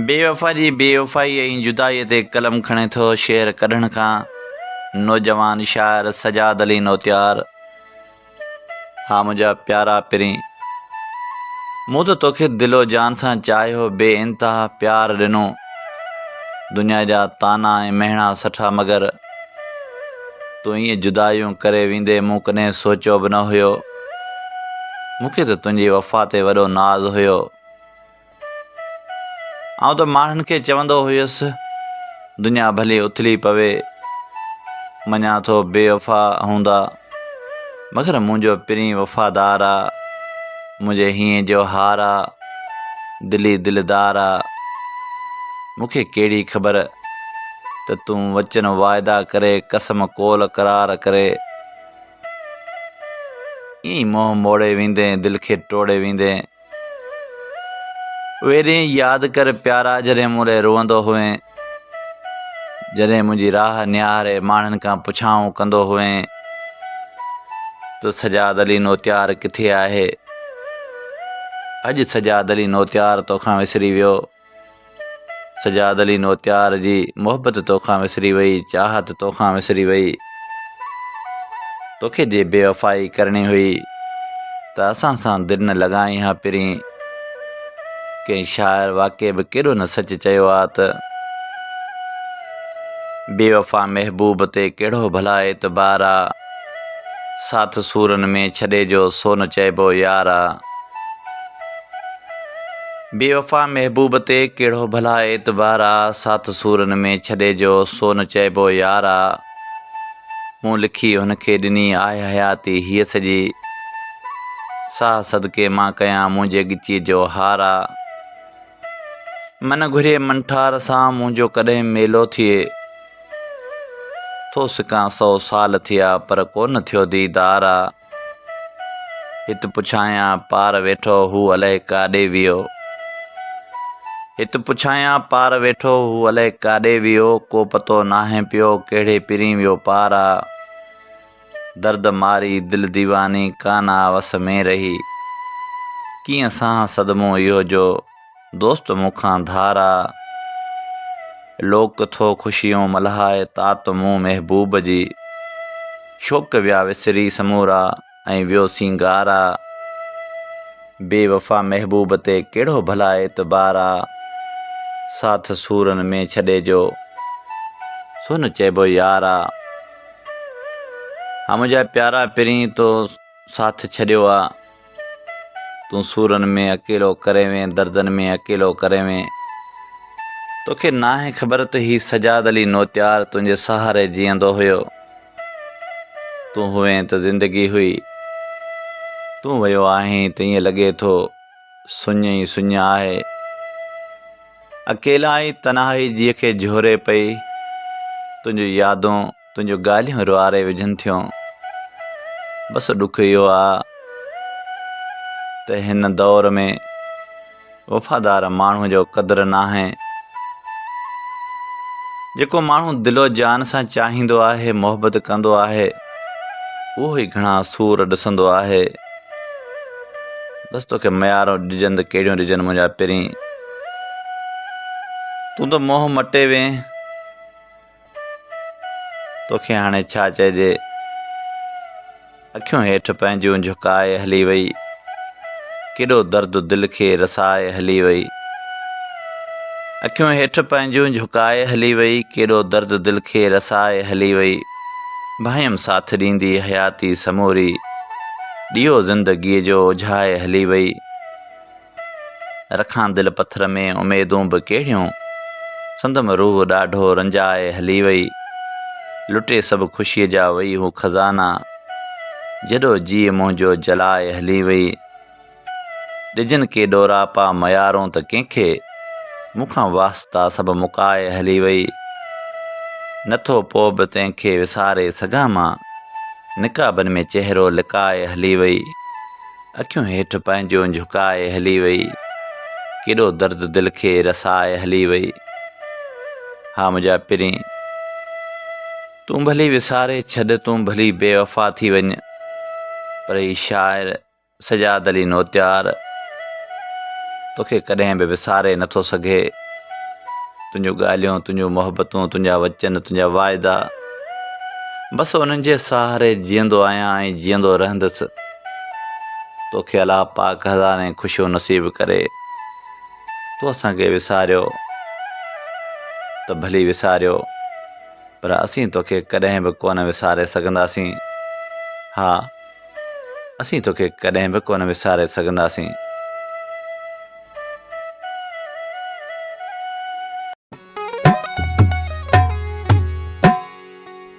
بيوفا جي بيوفائي ۽ جدائي تي قلم کڻي ٿو شعر ڪڍڻ کان نوجوان شاعر سجاد علي نوتيار ها منهنجا پيارا پرين مون ته توکي دل و جان سان چاهيو بي انتها پيار ڏنو دنيا جا طعنا ۽ مهڻا سٺا مگر تون ائين جدايون ڪري ويندين مون ڪڏهن سوچيو به نه هيو مون کي ته تنهنجي وفا تي وڏو ناز هيو آئون ته ماڻهن کي چوندو هيس دنيا ڀلي اٿلي پوي مڃان ٿو بي وفا هوندا مگر منهنجو پرين وفادار آ منهنجي هينء جو هار آ دلي دلدار آ مونکي ڪهڙي خبر ته تون وچن واعدا ڪري قسم قول قرار ڪري ائين منهن موڙي ويندين دل کي ٽوڙي ويندين اهي ڏينهن ياد ڪر پيارا جڏهن مون لاء روئندو هئين جڏهن منهنجي راهه نهاري ماڻهن کان پڇائون ڪندو هئين ته سجاد علي نوتيار ڪٿي آهي اڄ سجاد علي نوتيار توکان وسري ويو سجاد علي نوتيار جي محبت توکان وسري وئي چاهت توکان وسري وئي توکي جي بي وفائي ڪرڻي هئي ته اسان سان دل نه لڳائين ها پرين ڪنهن شاعر واقعي به ڪيڏو نه سچ چيو آ ته بي وفا محبوب تي ڪهڙو ڀلا اعتبار آ ساٿ سورن ۾ ڇڏي جو سو نه چئبو يار آ بي وفا محبوب تي ڪهڙو ڀلا اعتبار آ ساٿ سورن ۾ ڇڏي جو سو نه چئبو يار آ مون لکي هن کي ڏني آهه حياتي هيء سڄي ساهه صدقي مان ڪيان منهنجي ڳچيء جو هار آ من گهري من ٺار سان منهنجو ڪڏهن ميلو ٿئي ٿو سڪان سئو سال ٿيا پر ڪو نه ٿيو ديدار آ. هت پڇايان پار ويٺو هو الئه ڪاڏي ويو. هت پڇايان پار ويٺو هو الئه ڪاڏي ويو ڪو پتو ناهي پيو ڪهڙي پرين ويو پار آ درد ماري دل ديواني ڪانه آ وس ۾ رهي ڪيئن سهان صدمو اهو جو دوست مون کان ڌار آ. لوڪ ٿو خوشيون ملهائي تات مون محبوب جي. شوق ويا وسري سمورا ۽ ويو سينگار آ. بي وفا محبوب تي ڪهڙو ڀلا اعتبار آ. ساٿ سورن ۾ ڇڏي جو سونهن چئبو يار آ. ها منهنجا پيارا پرين تو ساٿ ڇڏيو آ. تون سورن ۾ اڪيلو ڪريوين دردن ۾ اڪيلو ڪريوين توکي ناهي خبر ته هي سجاد علي نوتيار تنهنجي سهاري جيئندو هيو تون هئين ته زندگي هئي تون ويو آهين ته ائين لڳي ٿو سڃ ئي سڃ آهي اڪيلائي تنهائي جيء کي جهوري پئي تنهنجون يادون تنهنجون ڳالهيون روئاري وجهن ٿيون بس ڏک اهو آ ته هن دور ۾ وفادار ماڻهو جو قدر ناهي جيڪو ماڻهو دل و جان سان چاهيندو آهي محبت ڪندو آهي اهو ئي گهڻا سور ڏسندو آهي بس توکي ميارو ڏجن ته ڪهڙيون ڏجن منهنجا پرين تون ته موهه مٽي وين توکي هاڻي ڇا چئجي. اکيون هيٺ پنهنجون جهڪائي هلي وئي. ڪيڏو درد دل کي رسائي هلي وئي. اکيون هيٺ پنهنجون جهڪائي هلي وئي. ڪيڏو درد دل کي رسائي هلي وئي. ڀانئيم ساٿ ڏيندي حياتي سموري. ڏيئو زندگيء جو اجهائي هلي وئي. رکان دل پٿر ۾ اميدون به ڪهڙيون. سندم روح ڏاڍو رنجائي هلي وئي. لٽي سڀ خوشيء جا وئي هو خزانا. جهڏو جيء منهنجو جلائي هلي وئي. ڏجن ڪي ڏوراپا ميارون ته ڪنهن کي. مون کان واسطا سڀ مڪائي هلي وئي. نه ٿو پوء به تنهن کي وساري سگهان مان. نقابن ۾ چهرو لڪائي هلي وئي. اکيون هيٺ پنهنجون جهڪائي هلي وئي. ڪيڏو درد دل کي رسائي هلي وئي. ها منهنجا پرين! تون ڀلي وساري ڇڏ، تون ڀلي بي وفا ٿي وڃ، پر هي شاعر سجاد علي نوتيار توکي ڪڏهن به وساري نه ٿو سگهي. تنهنجون ڳالهيون، تنهنجون محبتون، تنهنجا وچن، تنهنجا واعدا، بس انهن جي سهاري جيئندو آهيان ۽ جيئندو رهندس. توکي الله پاڪ هزارين خوشيون نصيب ڪري تو اسان کي وساريو ته ڀلي وساريو پر اسين توکي ڪڏهن به ڪونه وساري سگهنداسين ها اسين توکي ڪڏهن به ڪونه وساري سگهنداسين